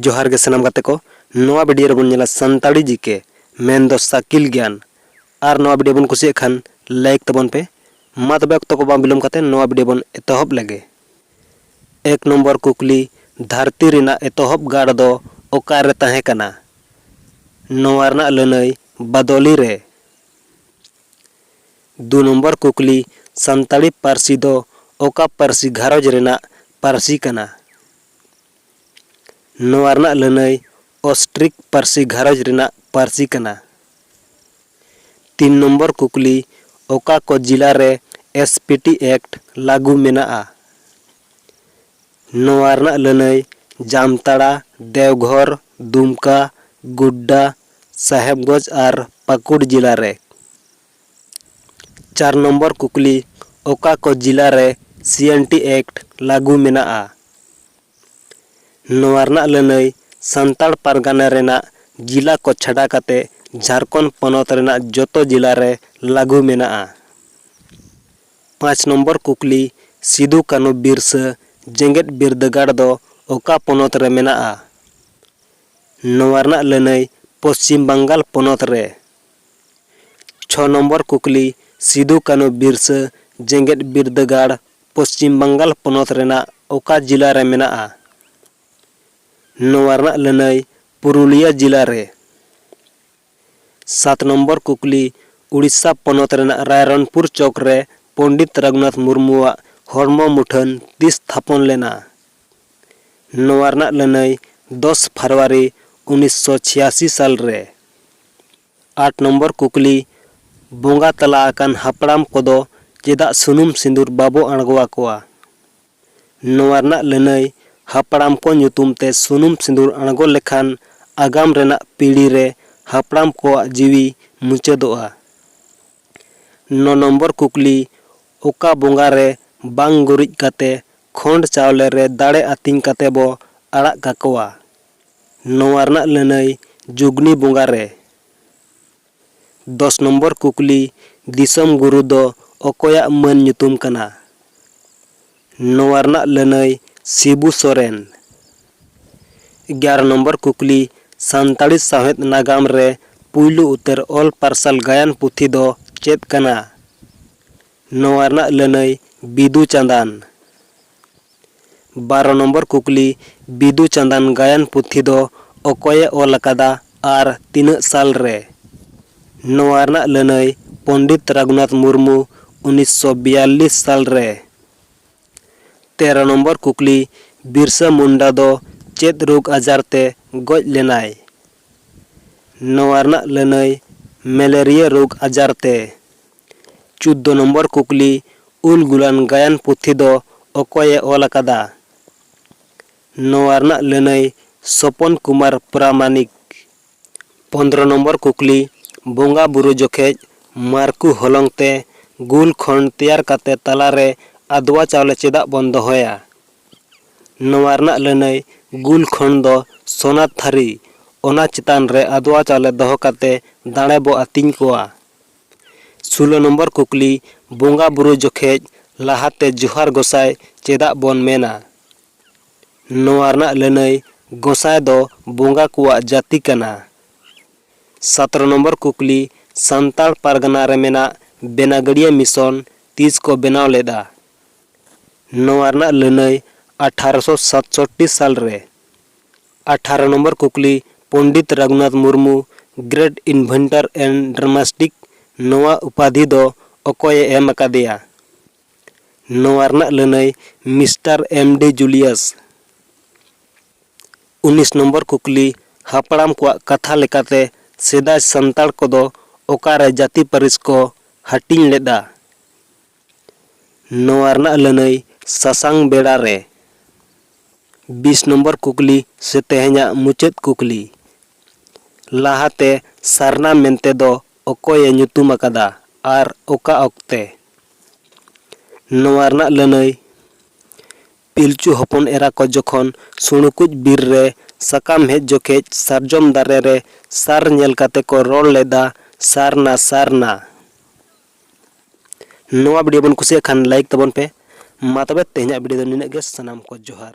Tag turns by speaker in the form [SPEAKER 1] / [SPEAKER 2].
[SPEAKER 1] ᱡᱚᱦᱟᱨ ᱜᱮ ᱥᱟᱱᱟᱢ ᱜᱟᱛᱮ ᱠᱚ ᱱᱚᱣᱟ ᱵᱷᱤᱰᱤᱭᱳ ᱨᱮᱵᱚᱱ ᱧᱮᱞᱟ ᱥᱟᱱᱛᱟᱲᱤ ᱡᱤᱠᱮ ᱢᱮᱱ ᱫᱚ ᱥᱟᱠᱤᱞ ᱜᱮᱭᱟᱱ ᱟᱨ ᱱᱚᱣᱟ ᱵᱷᱤᱰᱤᱭᱳ ᱵᱚᱱ ᱠᱩᱥᱤᱭᱟᱜ ᱠᱷᱟᱱ ᱞᱟᱭᱤᱠ ᱛᱟᱵᱚᱱ ᱯᱮ ᱢᱟ ᱛᱚᱵᱮ ᱚᱠᱛᱚ ᱠᱚ ᱵᱟᱝ ᱵᱤᱞᱚᱢ ᱠᱟᱛᱮ ᱱᱚᱣᱟ ᱵᱷᱤᱰᱤᱭᱳ ᱵᱚᱱ ᱮᱛᱚᱦᱚᱵ ᱞᱮᱜᱮ ᱮᱠ ᱱᱚᱢᱵᱚᱨ ᱠᱩᱠᱞᱤ ᱫᱷᱟᱹᱨᱛᱤ ᱨᱮᱱᱟᱜ ᱮᱛᱚᱦᱚᱵ ᱜᱟᱲ ᱫᱚ ᱚᱠᱟᱨᱮ ᱛᱟᱦᱮᱸ ᱠᱟᱱᱟ ᱱᱚᱣᱟ ᱨᱮᱱᱟᱜ ᱞᱟᱹᱱᱟᱹᱭ ᱵᱟᱫᱚᱞᱤ ᱨᱮ ᱫᱩ ᱱᱚᱢᱵᱚᱨ ᱠᱩᱠᱞᱤ, ᱥᱟᱱᱛᱟᱲᱤ ᱯᱟᱹᱨᱥᱤ ᱫᱚ ᱚᱠᱟ ᱯᱟᱹᱨᱥᱤ ᱜᱷᱟᱨᱚᱸᱡᱽ ᱨᱮᱱᱟᱜ ᱯᱟᱹᱨᱥᱤ ᱠᱟᱱᱟ? ᱱᱚᱣᱟ ᱨᱮᱱᱟᱜ ᱞᱟᱹᱱᱟᱹᱭ ᱚᱥᱴᱨᱤᱠ ᱯᱟᱹᱨᱥᱤ ᱜᱷᱟᱨᱚᱸᱡᱽ ᱨᱮᱱᱟᱜ ᱯᱟᱹᱨᱥᱤ ᱠᱟᱱᱟ᱾ ᱛᱤᱱ ᱱᱚᱢᱵᱚᱨ ᱠᱩᱠᱞᱤ, ᱚᱠᱟ ᱠᱚ ᱡᱤᱞᱟ ᱨᱮ ᱮᱥᱯᱤᱴᱤ ᱮᱠᱴ ᱞᱟᱹᱜᱩ ᱢᱮᱱᱟᱜᱼᱟ? ᱱᱚᱣᱟ ᱨᱮᱱᱟᱜ ᱞᱟᱹᱱᱟᱹᱭ ᱡᱟᱢᱛᱟᱲᱟ, ᱫᱮᱣᱜᱷᱚᱨ, ᱫᱩᱢᱠᱟ, ᱜᱳᱰᱰᱟ, ᱥᱟᱦᱮᱵᱽᱜᱚᱸᱡᱽ ᱟᱨ ᱯᱟᱠᱩᱲ ᱡᱤᱞᱟ ᱨᱮ᱾ ᱪᱟᱨ ᱱᱚᱢᱵᱚᱨ ᱠᱩᱠᱞᱤ, ᱚᱠᱟ ᱠᱚ ᱡᱤᱞᱟ ᱨᱮ ᱥᱤᱮᱱᱴᱤ ᱮᱠᱴ ᱞᱟᱹᱜᱩ ᱢᱮᱱᱟᱜᱼᱟ? ᱱᱚᱣᱟ ᱨᱮᱱᱟᱜ ᱞᱟᱹᱱᱟᱹᱭ ᱥᱟᱱᱛᱟᱲ ᱯᱟᱨᱜᱟᱱᱟ ᱨᱮᱱᱟᱜ ᱡᱤᱞᱟ ᱠᱚ ᱪᱷᱟᱰᱟ ᱠᱟᱛᱮ ᱡᱷᱟᱨᱠᱷᱚᱸᱰ ᱯᱚᱱᱚᱛ ᱨᱮᱱᱟᱜ ᱡᱚᱛᱚ ᱡᱤᱞᱟ ᱨᱮ ᱞᱟᱹᱜᱩ ᱢᱮᱱᱟᱜᱼᱟ᱾ ᱯᱟᱸᱪ ᱱᱚᱢᱵᱚᱨ ᱠᱩᱠᱞᱤ, ᱥᱤᱫᱩ ᱠᱟᱹᱱᱦᱩ ᱵᱤᱨᱥᱟᱹ ᱡᱮᱜᱮᱛ ᱵᱤᱨᱫᱟᱹᱜᱟᱲ ᱫᱚ ᱚᱠᱟ ᱯᱚᱱᱚᱛ ᱨᱮ ᱢᱮᱱᱟᱜᱼᱟ? ᱱᱚᱣᱟ ᱨᱮᱱᱟᱜ ᱞᱟᱹᱱᱟᱹᱭ ᱯᱚᱪᱷᱤᱢ ᱵᱟᱝᱜᱟᱞ ᱯᱚᱱᱚᱛ ᱨᱮ᱾ ᱪᱷᱚ ᱱᱚᱢᱵᱚᱨ ᱠᱩᱠᱞᱤ, ᱥᱤᱫᱩ ᱠᱟᱹᱱᱦᱩ ᱵᱤᱨᱥᱟᱹ ᱡᱮᱜᱮᱛ ᱵᱤᱨᱫᱟᱹᱜᱟᱲ ᱯᱚᱪᱷᱤᱢ ᱵᱟᱝᱜᱟᱞ ᱯᱚᱱᱚᱛ ᱨᱮᱱᱟᱜ ᱚᱠᱟ ᱡᱤᱞᱟ ᱨᱮ ᱢᱮᱱᱟᱜᱼᱟ? ᱱᱚᱣᱟ ᱨᱮᱱᱟᱜ ᱞᱟᱹᱱᱟᱹᱭ ᱯᱩᱨᱩᱞᱤᱭᱟ ᱡᱤᱞᱟ ᱨᱮ᱾ ᱥᱟᱛ ᱱᱚᱢᱵᱚᱨ ᱠᱩᱠᱞᱤ, ᱳᱰᱤᱥᱟ ᱯᱚᱱᱚᱛ ᱨᱮᱱᱟᱜ ᱨᱟᱭᱨᱚᱱᱯᱩᱨ ᱪᱚᱠ ᱨᱮ ᱯᱚᱸᱰᱤᱛ ᱨᱟᱹᱜᱷᱩᱱᱟᱛᱷ ᱢᱩᱨᱢᱩᱣᱟᱜ ᱦᱚᱲᱢᱚ ᱢᱩᱴᱷᱟᱹᱱ ᱛᱤᱥ ᱛᱷᱟᱯᱚᱱ ᱞᱮᱱᱟ? ᱱᱚᱣᱟ ᱨᱮᱱᱟᱜ ᱞᱟᱹᱱᱟᱹᱭ ᱫᱚᱥ ᱯᱷᱟᱨᱣᱟᱨᱤ ᱩᱱᱤᱥ ᱥᱚ ᱪᱷᱤᱭᱟᱥᱤ ᱥᱟᱞ ᱨᱮ ᱟᱴ ᱱᱚᱢᱵᱚᱨ ᱠᱩᱠᱞᱤ ᱵᱚᱸᱜᱟ ᱛᱟᱞᱟ ᱟᱠᱟᱱ ᱦᱟᱯᱲᱟᱢ ᱠᱚᱫᱚ ᱪᱮᱫᱟᱜ ᱥᱩᱱᱩᱢ ᱥᱤᱸᱫᱩᱨ ᱵᱟᱵᱚ ᱟᱬᱜᱚ ᱟᱠᱚᱣᱟ? ᱱᱚᱣᱟ ᱨᱮᱱᱟᱜ ᱞᱟᱹᱱᱟᱹᱭ ᱦᱟᱯᱲᱟᱢ ᱠᱚ ᱧᱩᱛᱩᱢ ᱛᱮ ᱥᱩᱱᱩᱢ ᱥᱤᱸᱫᱩᱨ ᱟᱬᱜᱚ ᱞᱮᱠᱷᱟᱱ ᱟᱜᱟᱢ ᱨᱮᱱᱟᱜ ᱯᱤᱲᱦᱤ ᱨᱮ ᱦᱟᱯᱲᱟᱢ ᱠᱚᱣᱟᱜ ᱡᱤᱣᱤ ᱢᱩᱪᱟᱹᱫᱚᱜᱼᱟ᱾ ᱱᱚ ᱱᱚᱢᱵᱚᱨ ᱠᱩᱠᱞᱤ ᱚᱠᱟ ᱵᱚᱸᱜᱟ ᱨᱮ ᱵᱟᱝ ᱜᱩᱨᱤᱡ ᱠᱟᱛᱮ ᱠᱷᱚᱸᱰ ᱪᱟᱣᱞᱮ ᱨᱮ ᱫᱟᱲᱮ ᱟᱹᱛᱤᱧ ᱠᱟᱛᱮ ᱵᱚ ᱟᱲᱟᱜ ᱠᱟᱠᱚᱣᱟ᱾ ᱱᱚᱶᱟ ᱨᱮᱱᱟᱜ ᱞᱟᱹᱱᱟᱹᱭ ᱡᱩᱜᱽᱱᱤ ᱵᱚᱸᱜᱟ ᱨᱮ᱾ ᱫᱚᱥ ᱱᱚᱢᱵᱚᱨ ᱠᱩᱠᱞᱤ, ᱫᱤᱥᱚᱢ ᱜᱩᱨᱩ ᱫᱚ ᱚᱠᱚᱭᱟᱜ ᱢᱟᱹᱱ ᱧᱩᱛᱩᱢ ᱠᱟᱱᱟ? ᱱᱚᱶᱟ ᱨᱮᱱᱟᱜ ᱞᱟᱹᱱᱟᱹᱭ ᱥᱤᱵᱩ ᱥᱚᱨᱮᱱ᱾ ᱮᱜᱟᱨᱚ ᱱᱚᱢᱵᱚᱨ ᱠᱩᱠᱞᱤ, ᱥᱟᱱᱛᱟᱲᱤ ᱥᱟᱶᱦᱮᱫ ᱱᱟᱜᱟᱢ ᱨᱮ ᱯᱩᱭᱞᱩ ᱩᱛᱟᱹᱨ ᱚᱞ ᱯᱟᱨᱥᱟᱞ ᱜᱟᱭᱟᱱ ᱯᱩᱛᱷᱤ ᱫᱚ ᱪᱮᱫ ᱠᱟᱱᱟ? ᱱᱚᱣᱟ ᱨᱮᱱᱟᱜ ᱞᱟᱹᱱᱟᱹᱭ ᱵᱤᱫᱩ ᱪᱟᱸᱫᱟᱱ᱾ ᱵᱟᱨᱚ ᱱᱚᱢᱵᱚᱨ ᱠᱩᱠᱞᱤ, ᱵᱤᱫᱩ ᱪᱟᱸᱫᱟᱱ ᱜᱟᱭᱟᱱ ᱯᱩᱛᱷᱤ ᱫᱚ ᱚᱠᱚᱭ ᱮ ᱚᱞ ᱟᱠᱟᱫᱟ ᱟᱨ ᱛᱤᱱᱟᱹᱜ ᱥᱟᱞ ᱨᱮ? ᱱᱚᱣᱟ ᱨᱮᱱᱟᱜ ᱞᱟᱹᱱᱟᱹᱭ ᱯᱚᱸᱰᱤᱛ ᱨᱟᱜᱷᱩᱱᱟᱛᱷ ᱢᱩᱨᱢᱩ ᱩᱱᱤᱥ ᱥᱚ ᱵᱤᱭᱟᱞᱞᱤᱥ ᱥᱟᱞ ᱨᱮ᱾ ᱛᱮᱨᱚ ᱱᱚᱢᱵᱚᱨ ᱠᱩᱠᱞᱤ, ᱵᱤᱨᱥᱟᱹ ᱢᱩᱱᱰᱟ ᱫᱚ ᱪᱮᱫ ᱨᱳᱜᱽ ᱟᱡᱟᱨ ᱛᱮ ᱜᱚᱡ ᱞᱮᱱᱟᱭ? ᱱᱚᱣᱟ ᱨᱮᱱᱟᱜ ᱞᱟᱹᱱᱟᱹᱭ ᱢᱮᱞᱮᱨᱤᱭᱟᱹ ᱨᱳᱜᱽ ᱟᱡᱟᱨ ᱛᱮ᱾ ᱪᱩᱫᱫᱚ ᱱᱚᱢᱵᱚᱨ ᱠᱩᱠᱞᱤ, ᱩᱞ ᱜᱩᱞᱟᱱ ᱜᱟᱭᱟᱱ ᱯᱩᱛᱷᱤ ᱫᱚ ᱚᱠᱚᱭ ᱮ ᱚᱞ ᱟᱠᱟᱫᱟ? ᱱᱚᱣᱟ ᱨᱮᱱᱟᱜ ᱞᱟᱹᱱᱟᱹᱭ ᱥᱚᱯᱚᱱ ᱠᱩᱢᱟᱨ ᱯᱨᱟᱢᱟᱱᱤᱠ᱾ ᱯᱚᱱᱫᱨᱚ ᱱᱚᱢᱵᱚᱨ ᱠᱩᱠᱞᱤ, ᱵᱚᱸᱜᱟ ᱵᱩᱨᱩ ᱡᱚᱠᱷᱮᱡ ᱢᱟᱨᱠᱩ ᱦᱚᱞᱚᱝ ᱛᱮ ᱜᱩᱞ ᱠᱷᱚᱱᱰ ᱛᱮᱭᱟᱨ ᱠᱟᱛᱮ ᱛᱟᱞᱟ ᱨᱮ ᱟᱫᱽᱣᱟ ᱪᱟᱣᱞᱮ ᱪᱮᱫᱟᱜ ᱵᱚᱱ ᱫᱚᱦᱚᱭᱟ? ᱱᱚᱣᱟ ᱨᱮᱱᱟᱜ ᱞᱟᱹᱱᱟᱹᱭ ᱜᱩᱞ ᱠᱷᱚᱱᱰ ᱫᱚ ᱥᱚᱱᱟ ᱛᱷᱟᱹᱨᱤ, ᱚᱱᱟ ᱪᱮᱛᱟᱱ ᱨᱮ ᱟᱫᱽᱣᱟ ᱪᱟᱣᱞᱮ ᱫᱚᱦᱚ ᱠᱟᱛᱮ ᱫᱟᱬᱮ ᱵᱚ ᱟᱹᱛᱤᱧ ᱠᱚᱣᱟ᱾ ᱥᱩᱞᱚ ᱱᱚᱢᱵᱚᱨ ᱠᱩᱠᱞᱤ, ᱵᱚᱸᱜᱟ ᱵᱩᱨᱩ ᱡᱚᱠᱷᱮᱡ ᱞᱟᱦᱟ ᱛᱮ ᱡᱚᱦᱟᱨ ᱜᱚᱸᱥᱟᱭ ᱪᱮᱫᱟᱜ ᱵᱚᱱ ᱢᱮᱱᱟ? ᱱᱚᱣᱟ ᱨᱮᱱᱟᱜ ᱞᱟᱹᱱᱟᱹᱭ, ᱜᱚᱸᱥᱟᱭ ᱫᱚ ᱵᱚᱸᱜᱟ ᱠᱚᱣᱟᱜ ᱡᱟᱹᱛᱤ ᱠᱟᱱᱟ᱾ ᱥᱟᱛᱨᱚ ᱱᱚᱢᱵᱚᱨ ᱠᱩᱠᱞᱤ, ᱥᱟᱱᱛᱟᱲ ᱯᱟᱨᱜᱟᱱᱟ ᱨᱮ ᱢᱮᱱᱟᱜ ᱵᱮᱱᱟᱜᱟᱹᱲᱤᱭᱟᱹ ᱢᱤᱥᱚᱱ ᱛᱤᱥ ᱠᱚ ᱵᱮᱱᱟᱣ ᱞᱮᱫᱼᱟ? ᱱᱚᱣᱟ ᱨᱮᱱᱟᱜ ᱞᱟᱹᱱᱟᱹᱭ, ᱟᱴᱷᱟᱨᱚ ᱥᱚ ᱥᱟᱛᱥᱚᱴᱴᱤ ᱥᱟᱞ ᱨᱮ᱾ ᱟᱴᱷᱟᱨᱚ ᱱᱚᱢᱵᱚᱨ ᱠᱩᱠᱞᱤ, Pandit Raghunath Murmu, great inventor and dramatist, ᱱᱚᱣᱟ ᱩᱯᱟᱫᱷᱤ ᱫᱚ ᱚᱠᱚᱭ ᱮ ᱮᱢ ᱟᱠᱟᱫᱮᱭᱟ? ᱱᱚᱣᱟ ᱨᱮᱱᱟᱜ ᱞᱟᱹᱱᱟᱹᱭ ᱢᱤᱥᱴᱟᱨ ᱮᱢ ᱰᱤ ᱡᱩᱞᱤᱭᱟᱥ᱾ ᱩᱱᱤᱥ ᱱᱚᱢᱵᱚᱨ ᱠᱩᱠᱞᱤ, ᱦᱟᱯᱲᱟᱢ ᱠᱚᱣᱟᱜ ᱠᱟᱛᱷᱟ ᱞᱮᱠᱟᱛᱮ ᱥᱮᱫᱟᱭ ᱥᱟᱱᱛᱟᱲ ᱠᱚᱫᱚ ᱚᱠᱟ ᱨᱮ ᱡᱟᱹᱛᱤ ᱯᱟᱹᱨᱤᱥ ᱠᱚ ᱦᱟᱹᱴᱤᱧ ᱞᱮᱫᱼᱟ? ᱱᱚᱣᱟ ᱨᱮᱱᱟᱜ ᱞᱟᱹᱱᱟᱹᱭ ᱥᱟᱥᱟᱝ ᱵᱮᱲᱟ ᱨᱮ ᱵᱤᱥ ᱱᱚᱢᱵᱚᱨ ᱠᱩᱠᱞᱤ ᱥᱮ ᱛᱮᱦᱮᱧᱟᱜ ᱢᱩᱪᱟᱹᱫ ᱠᱩᱠᱞᱤ᱾ ᱞᱟᱦᱟ ᱛᱮ ᱥᱟᱨᱱᱟ ᱢᱮᱱᱛᱮ ᱫᱚ ᱚᱠᱚᱭ ᱮ ᱧᱩᱛᱩᱢ ᱟᱠᱟᱫᱟ ᱟᱨ ᱚᱠᱟ ᱚᱠᱛᱮ? ᱱᱚᱣᱟ ᱨᱮᱱᱟᱜ ᱞᱟᱹᱱᱟᱹᱭ ᱯᱤᱞᱪᱩ ᱦᱚᱯᱚᱱ ᱮᱨᱟ ᱠᱚ ᱡᱚᱠᱷᱚᱱ ᱥᱩᱬᱩᱠᱩᱡ ᱵᱤᱨ ᱨᱮ ᱥᱟᱠᱟᱢ ᱦᱮᱡ ᱡᱚᱠᱷᱮᱡ ᱥᱟᱨᱡᱚᱢ ᱫᱟᱨᱮ ᱨᱮ ᱥᱟᱨ ᱧᱮᱞ ᱠᱟᱛᱮ ᱠᱚ ᱨᱚᱲ ᱞᱮᱫᱟ ᱥᱟᱨᱱᱟ ᱥᱟᱨᱱᱟ᱾ ᱱᱚᱣᱟ ᱵᱷᱤᱰᱤᱭᱳ ᱵᱚᱱ ᱠᱩᱥᱤᱭᱟᱜ ᱠᱷᱟᱱ ᱞᱟᱭᱤᱠ ᱛᱟᱵᱚᱱ ᱯᱮ ᱢᱟ ᱛᱚᱵᱮ ᱛᱮᱦᱮᱧᱟᱜ ᱵᱷᱤᱰᱤᱭᱳ ᱫᱚ ᱱᱤᱱᱟᱹᱜ ᱜᱮ ᱥᱟᱱᱟᱢ ᱠᱚ ᱡᱚᱦᱟᱨ